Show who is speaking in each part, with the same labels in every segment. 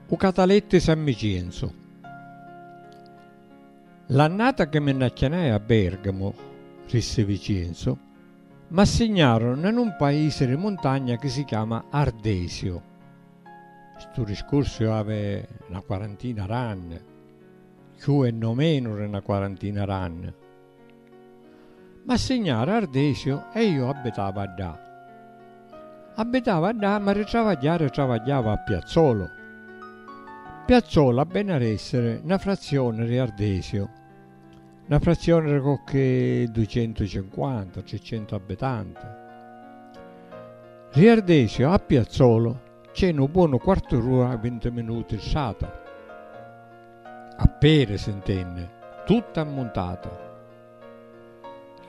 Speaker 1: U catalettu 'i San Micienzu. L'annata chi mi nn'acchianai a Bergamu, rissi Vicenzu, m'assignaru na nun paisi ri muntagna chi si chiama Ardesiu. Stu riscursu iu avi na quarantina d'anni, cchiù e no menu ri na quarantina d'anni. Ma signara Ardesiu e iu abbitava ddà. Abbitava ddà ma ri travagghiari travagghiava a Piazzolu. Piazzolu a beni ad essiri na frazioni ri Ardesiu, na frazioni ri cocchi ducentucinquanta, tricentu abbitanti. Ri Ardesiu a Piazzolu c'è nu bonu quartu d'ura vinti minuti strata. A peri sintenni tutta ammuntata.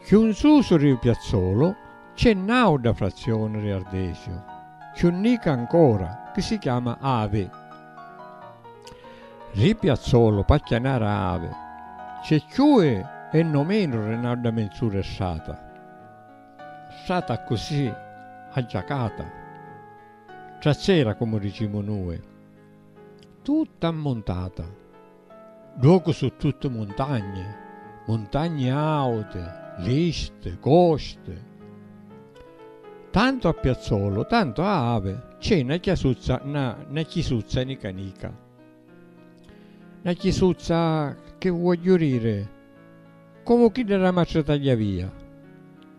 Speaker 1: Cchiù 'n susu ri u piazzolu c'è n'auda frazzioni ri Ardesiu, cchiù nica ancora, chi si chiama Avi. Ri piazzolu p'acchianara Avi c'è cchiù e no menu ri n'auda menz'ura e strata. Strata accussì aggiacata, trazzera comu dicimu nui. Tutta ammuntata. Ddocu su' tutti muntagni, muntagni auti, listi, costi. Tantu a Piazzolu, tantu a Avi, cc'è 'na chiasuzza, 'na, 'na chisuzza nica nica. 'na chisuzza, chi vuogghiu diri, comu chidda d'a Matri Tagliavia.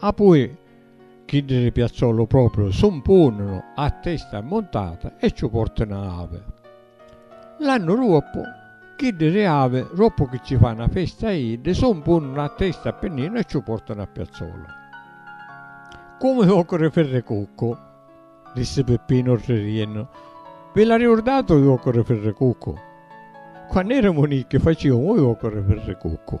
Speaker 1: Apui chiddi di Piazzolu propriu su 'mpununu a testa ammuntata e ciu portanu a Avi. L'annu ruoppu, chiddi di Avi, ruoppu chi ci fa 'na festa a iddi, su 'mpununu a testa a Pinninu e ciu portanu a Piazzolu. Comu i uocchi di Firricuccu! dissi Pippinu ridiennu. Vi la riurdati u uocchi di Firricuccu? Quannu eramu nicchi faciumu u uocchi di Firricuccu.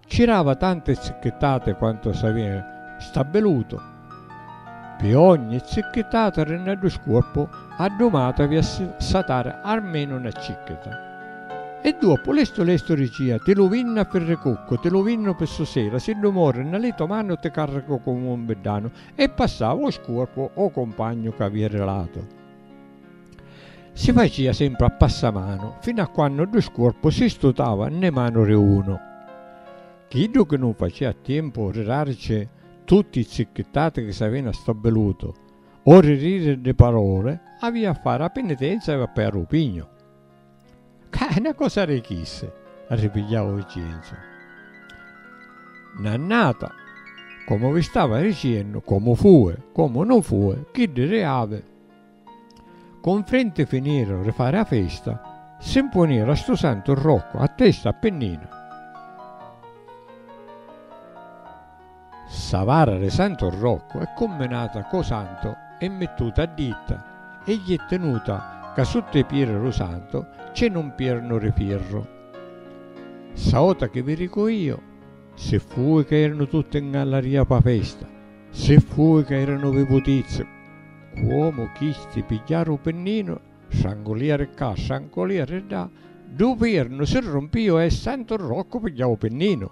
Speaker 1: Cirava tante zicchittati quantu s'avia stabbilutu, pi ogni zicchittata ri na du scuorpu a du matu avia satari armenu na cicchita. E duoppu lestu lestu ricia, ti lu vinnu a firricuccu, ti lu vinnu pi susera, siddu mori na li to manu ti carricu comu un biddanu e passava u scuorpu o cumpagnu c'avia ri latu. Si facia sempri a passamanu, finu a quannu ddu scuorpu si stutava nnê manu ri unu. Chiddu chi nun facia a tiempu ri darici tutti i zicchittati chi s'avina stabbilutu o ri diri ddi parole, avia a fari a pinitenza e vappè a ru pignu. Ca è 'na cosa ri chissi, arripigliau Vincenzu. Nannata, comu vi stava ricennu, comu fui, comu non fui, chiddi ri avi cunfrinti finiru ri fari 'a festa, si 'mpuniru a stu santu Roccu a testa a pinninu. Ssa vara de Santo Rocco è cumminata co Santo e mittuta a ditta e gli è tinuta ca sutta i pieri ru Santo c'è nu mpiernu ri firru. Ssa ota chi vi ricu io, si fui ca eranu tutti 'ngallaria pa festa, si fui ca eranu vivutizzi, cuomu chisti pigghiaru u pinninu, strangulia ri cca, strangulia ri dda, du pirnu si rumpiu e Santo Rocco pigghiau u pinninu.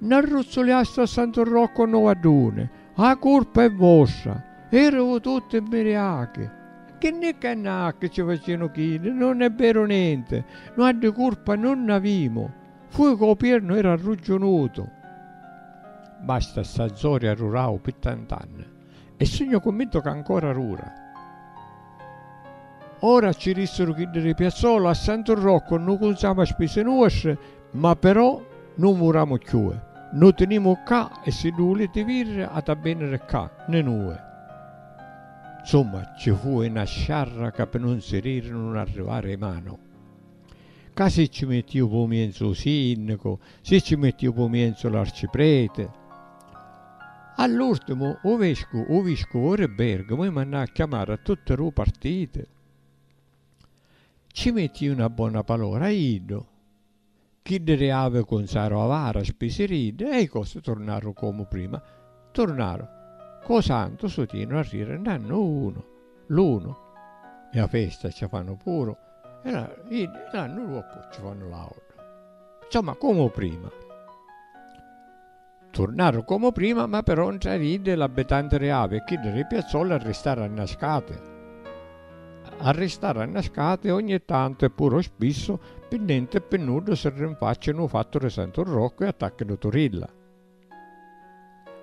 Speaker 1: Nn'arruzzuliastu a Santu Roccu nnu vadduni, 'a curpa è vostra, erivu tutti mmiriachi! Chi nni cannacchi ci facinu chiddi, nun è veru nenti, nua di curpa nun nn'avimu, fui ca 'u piernu era arruggiunutu! Basta sta zoria rurau pi tant'anni. E sugnu cunvintu ca ancora rura. Ora ci ristiru chiddi ri Piazzolo, a Santu Rocco nu cunzamu a spisi nuostri, ma però nun vuramu cchiue. Nu tinimu ccà e siddu vuliti virri ati a veniri ccà, ni nue. Nsumma, ci fui na sciarra ca pi nun siriri nun arrivari i manu. Ca si ci mittiu pu mienzu u sinnicu, si ci mittiu pu mienzu l'arcipreti. All'urtimu u vescu u viscuvu ri Bergamo i mannà a chiamari a tutti ru partiti. Ci metti una bona palora a iddu. Chiddi ri Avi cunzaru a vara spisi ri iddi e i cosi turnaru comu prima. Turnaru co santu sutinu a riri nannu unu, l'unu e a festa ci fannu puru e la iddi e l'annu duoppu ci fannu l'autra. Insomma comu prima. Turnaru comu prima, ma però 'ntra iddi l'abbitanti ri Avi e chiddi ri Piazzoli arristaru annascati. Arristaru annascati ogni tantu e puru spissu, pi nenti e pi nuddu si rinfaccianu u fattu ri Santu Roccu e attacchinu Turilla.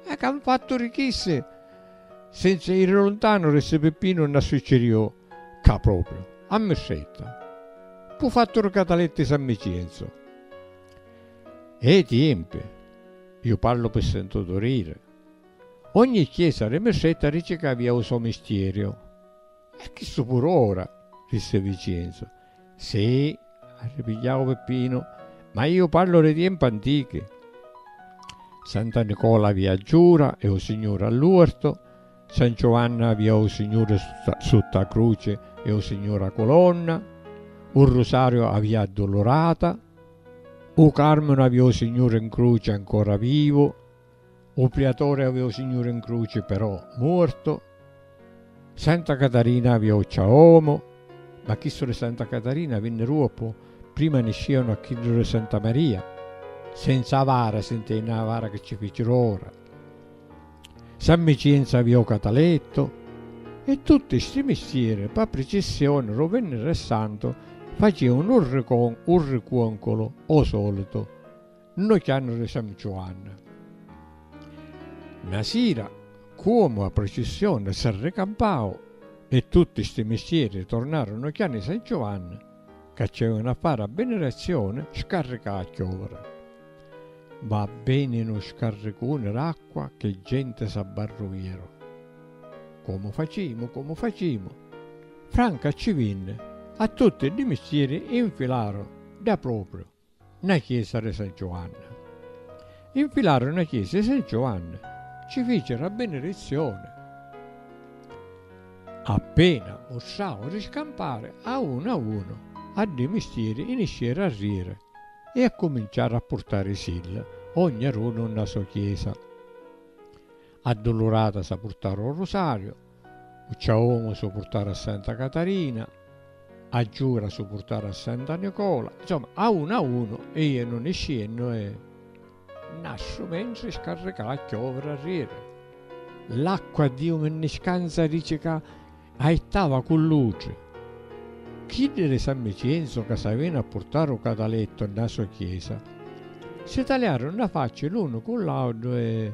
Speaker 1: Ah, ca 'n fattu ri chissi, senza iri luntanu, ri ssi Pippinu nna succiriu cca propriu, a Mistretta, p'u fattu ri Cataletti San Micienzu. E i tiempi, iu parlu pi sentutu riri, ogni chiesa ri Mistretta dici ca avia u so mistierio. E chistu puru ora, rissi Vicienzu. Si, arripigliau Pippinu, ma iu parlu ri tiempi antichi. Santa Nicola avia a Giura e u Signuri a l'uertu, San Giuanni avia u Signuri sutta a cruci e u Signuri a culonna, u Rusariu avia a Dulurata, U Carminu avi o Signuri 'n cruci ancora vivu, u Priatore avi o Signuri 'n cruci però muortu, Santa Catarina avi o ciaomu, ma chistu di Santa Catarina vinni duoppu, prima niscianu a chiddu di Santa Maria, senza vara, si ntendi, a vara chi ci ficiru ora. San Micinza vi o Cataletto e tutti sti mistieri pa pricissioni ro Vinniri Santu faciunu un ricon un ricuoncolo o solitu nno chiannu ri San Giuanni. Na sira cuomu a pricissioni s'arricampau e tutti sti mistieri tornaru nno chiannu i San Giuanni Ca c'è un affari a benedizioni scarrica a chiovere. Va beni nu scarricuni d'acqua che genti s'abbarruiru. Comu facimu, comu facimu. Franca ci vinni, a tutti di mistieri infilaru da propriu. 'na chiesa ri San Giuanni. Infilaru 'na chiesa ri San Giuanni, ci ficiru a binirizioni. Appena mustravu ri scampari, a unu a unu a ddi mistieri inisceru a riri e accuminciaru a purtarisilla ognarunu 'nna so chiesa. Adduluratasa purtaru 'o rusariu U ciaomu su purtara a Santa Catarina, a giura su purtara a Santa Nicola, insomma a unu a unu e io non ne sciennu e nasciu mentri scarricà a chioviri arrieri. L'acqua Diu mi nni scanza dici ca aittava cu l'utri. Chiddi di San Micienzu ca s'avinu a purtari u catalettu nna so chiesa si taliaru nna facci l'unu cu l'audu e.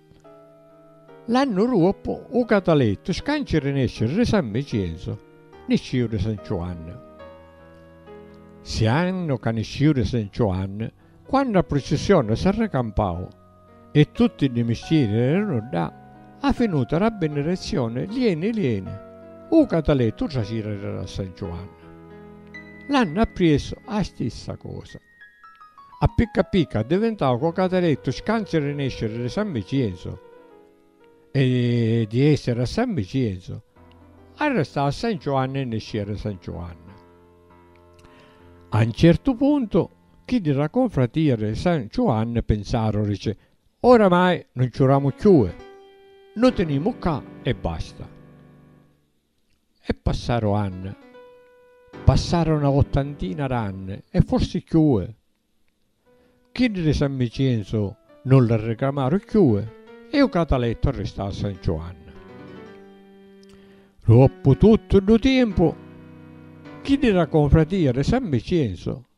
Speaker 1: L'annu ruoppu u catalettu scanci ri nesciri ri San Micienzu, nisciu ri San Ciuannu. Si annu ca nisciu ri San Ciuannu, quannu a prucissioni s'arricampau e tutti ddi misciri eranu ddà, a finuta ra binirezioni lieni lieni, u catalettu u tracira ri ra San Ciuannu. L'annu appriessu a stissa cosa. A picca a picca addivintau coca derettu scanci ri nesciri ri San Vicienzu e di essiri a San Vicienzu arristau a San Ciuanni e niscìa ri San Ciuanni. A un certu puntu chiddi ra confratìa ri San Ciuanni pinsaru dici Oramai nun ciuramu cchiui, nu tinimu ccà e basta. E passaru anni. Passaru na ottantina d'anni e forsi cchiui. Chiddi di San Micenzu nun li ricamaru cchiui e u catalettu arristau a San Ciuanni. Ruoppu tuttu ddu tiempu, chiddi d'a confratia di San Micenzu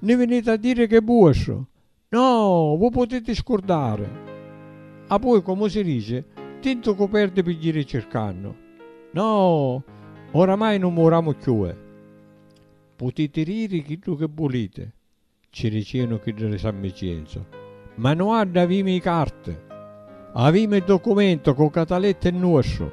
Speaker 1: Ni viniti a diri ch'è vuostru? No, vu putiti scurdari! Appoi, comu si dici, tintu cu perdi pi jiri circannu. No, oramai nun muramu cchiue! Putiti diri chiddu chi vuliti, ci dicìanu chiddi di San Micienzu, ma no adda avimi i carti! Avimi i documenti cu cataletti nuostru!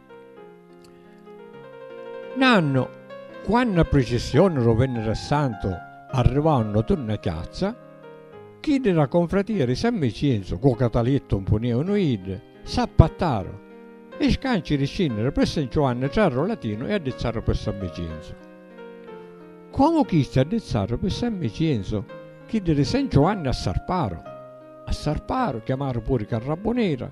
Speaker 1: Nannu, quannu a pricissioni ru Venniri Santu arrivau nno tunna chiazza, chiddi ra confratia ri San Vicinzu cu catalittu nfuniunu iddi, s'appattaru e scanci ri scinniri pi San Ciuanni trarru Latinu e addizzaru pi San Vicinzu. Comu chisti addizzaru pi San Vicinzu, chiddi ri San Ciuanni assarparu. Assarparu, chiamaru puri Carrabunira,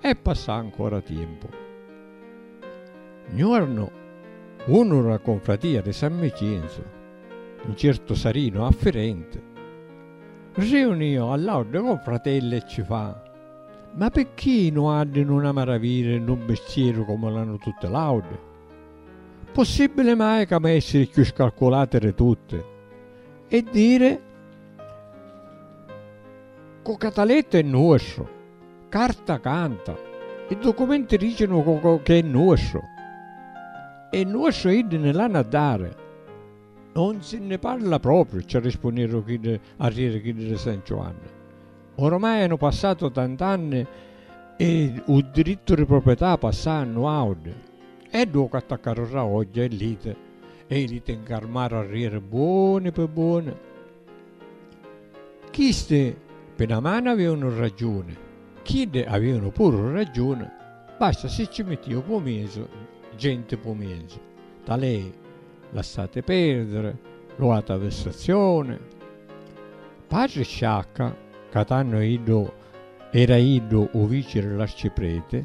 Speaker 1: e passà ancora tiempu. Nuornu unu ra confratia ri San Micienzu, ncertu Sarinu affirenti, riunio a l'autri confratelli e ci fa, Ma picchì nuaddi nun amaraviri nu mistieru comu l'hannu tutti l'autri? Possibili mai ca mi essiri cchiù scalculati ri tutti e diri cu Catalettu è nuostru? Carta canta, i documenti dicinu chi è nuostru. E nuostru iddi ni l'hannu a dari. Non si nni parla propriu, ci arrispunniru chiddi arrieri chiddi di San Giuanni. Ormai hanu passatu tant'anni e u dirittu di proprietà passà a nuauddi. E ddu ca attaccaru Raogghia e Lite e i Lite ncarmaru arrieri buoni pi buoni. Chisti pi na manu avìunu raggiuni, chiddi avìunu puru raggiuni, basta si cci mittìu pumisu, genti pumisu. Talei, lassati perdiri, lu atu a vessazioni. Patri Sciacca, ca tannu iddu era iddu u vici di l'arcipreti,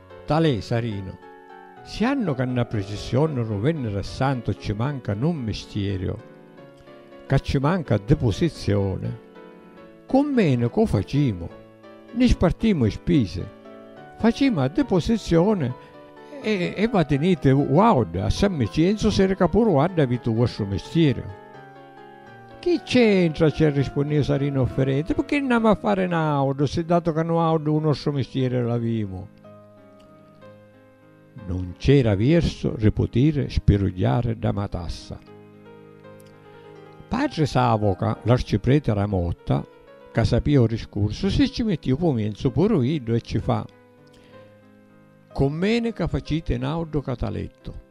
Speaker 1: Talè Sarinu, Si hannu ca nna pricissioni ru Venniri a Santu cci manca nu mmistieriu, ca cci manca ddi pusizzioni, cu mmenu cu facimu? Nni spartimu i spisi, facimu a ddi pusizzioni e e vatiniti uaudda a San Micienzu siri ca puru uaddha aviti u vostru mistieriu. Chi c'entra, ci arrispunniu Sarinu Offerenti, picchì nn'amu a fari n'audu, si datu ca nuaudu u nostru mistieri l'avimu. Nun c'era viersu ri putiri spirugghiari dda matassa. Patri Savoca, l'arcipreti ra Motta, ca sapia u riscursu, si ci mittiu pu mienzu puru iddu e ci fa, Commenica faciti n'audu catalettu.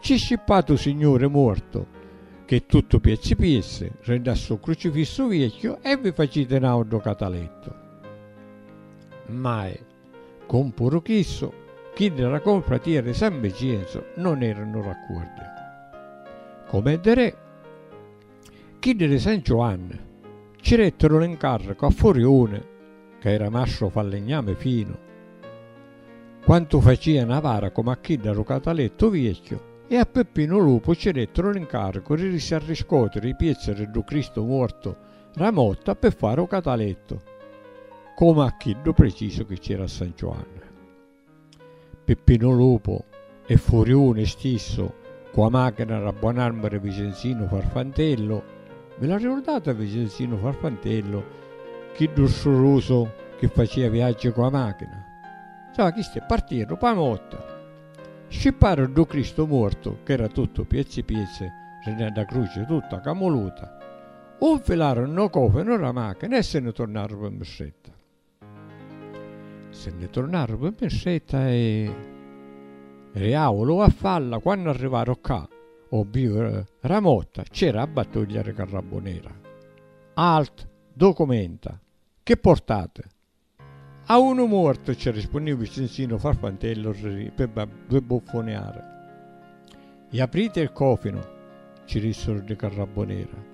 Speaker 1: Cci scippatu Signuri muortu, che tuttu piezzi piezzi, renni a stu crucifissu viecchiu e vi faciti n'autru catalettu. Mai, comu puru chissu, chiddi d'a Confratia di San Vicenzu non eranu raccuordi. Com'è di re. Chiddi di San Giuanni ci rettiru l'incarricu a Furiuni ca era mastru fallignami finu quantu facia na vara comu a chidda ru Catalettu viecchiu e a Peppinu Lupu ci rettiru l'incaricu di ri s'arriscotiri i piezzi di ddu Cristu muortu ra motta pi fari u catalettu comu a chiddu precisu chi c'era a San Giuanni. Pippinu Lupu e Furiuni stissu cu 'a machina d'a buon'arma di Vicenzinu Farfantellu, vi l'arricurdati a Vicenzinu Farfantellu, chiddu strurusu chi facia viaggi cu 'a machina? Insomma chisti partiru p'â motta, scipparu ddu Cristu muortu ch'era tuttu piezzi piezzi rinne dda cruci tutta camuluta, 'u 'nfilaru 'nno cofinu d'a machina e si nni turnaru pi Mistretta. Se nni turnaru pi Mirsetta e ri Aulu a falla, quannu arrivaru ccà ô biu ra motta cc'era a battuglia ri Carrabbunera. Alt. Documenta. Chi portati? A unu muortu cci rispunniu Vicinzinu Farfantellu ri pi bbuffuniari. Iapriti il cofinu, cci dissuru ri Carrabbunera.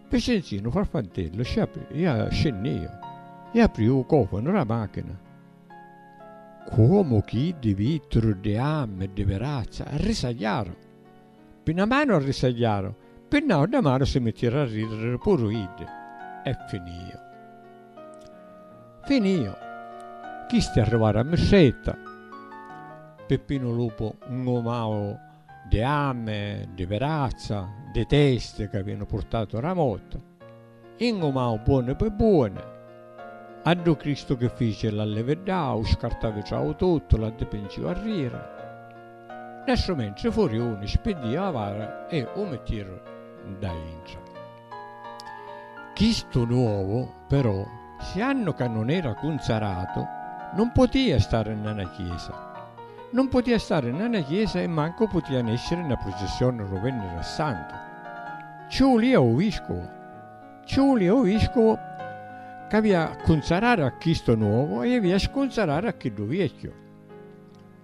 Speaker 1: Vincenzinu Farfantellu sci apri ia scennia e apri u cofanu ra machina. Cuomu chiddi vitturu di am e di verazza arrisagliaru. Pi na manu arrisagliaru, pi nauta manu si mittieru a ridiri puru iddi e finiu. Finiu. Chisti arrivaru a Mistretta. Pippinu Lupu 'ngumau. di ami, di virazza, di testi ca vinu purtatu ra motta, ingumau buoni pi buoni, a ddu Cristu chi fici l'allividdau, scartavi trau tuttu, l'addipinciu a rira, nastru mentri furiuni spiddìu avara e u mittiru nda intra. Chistu nuovu, però, siannu ca non era cunzaratu, non potia stari nna na chiesa. Non potia stari nna na chiesa e mancu potia nesciri nna prucissioni ru Venniri a Santu. Cci vulia u Viscuvu. Cci vulia u Viscuvu c'avia a cunzarari a chistu nuovu e avia a scunzarari a chiddu viecchiu.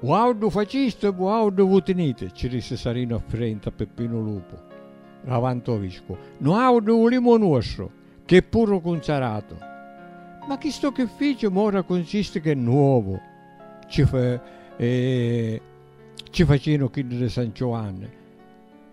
Speaker 1: Vuauddu facistu e vuauddu vu tiniti, ci rissi Sarinu affirenti a Pippinu Lupu, ravanti o viscu. Nuauddu vulimu o nuostru, chi è puru cunzaratu. Ma chistu chi fici mora cunsisti chi è nuovu, ci facinu chiddu di San Ciuanni.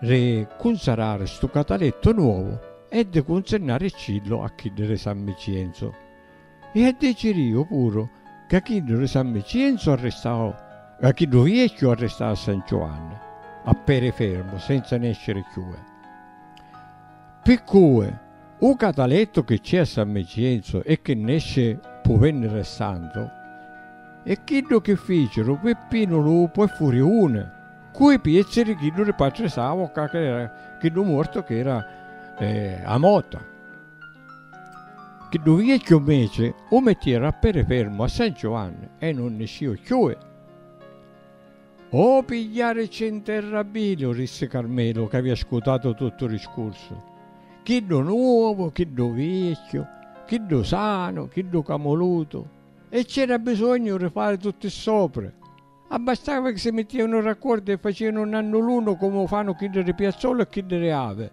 Speaker 1: Ri cunzarari stu catalettu nuovu e di cunzinnaricillu a chiddi ri San Micienzu. I a diciriu puru ca chiddu ri San Micienzu arristau ca chiddu viecchiu arristau a San Ciuanni a peri fermu senza nesciri cchiù e. Pi cui u catalettu chi c'è a San Micienzu e chi nesci pu Venni re Santu è chiddu chi ficiru Pippinu Lupu e Furiuni Cu i piezzi di chiddu di patri Savoca ca era chiddu mortu ca era a mota. Chiddu viecchiu mmeci u mittiera a peri fermu a San Giovanni e nun nisciu cchiui. O pigliaricci nterra Biliu, rissi Carmelu ca avia ascutatu tuttu u discursu, chiddu nuovu, chiddu viecchiu, chiddu sanu, chiddu camulutu e c'era bisognu di fari tutti ssopri. Abbastava chi si mittianu raccordi e facianu nannulunu comu fanu chiddi di Piazzolo e chiddi di Avi.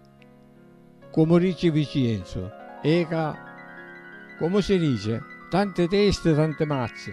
Speaker 1: Comu dici Vicienzu, e ca, comu si dici, tanti testi, tanti mazzi.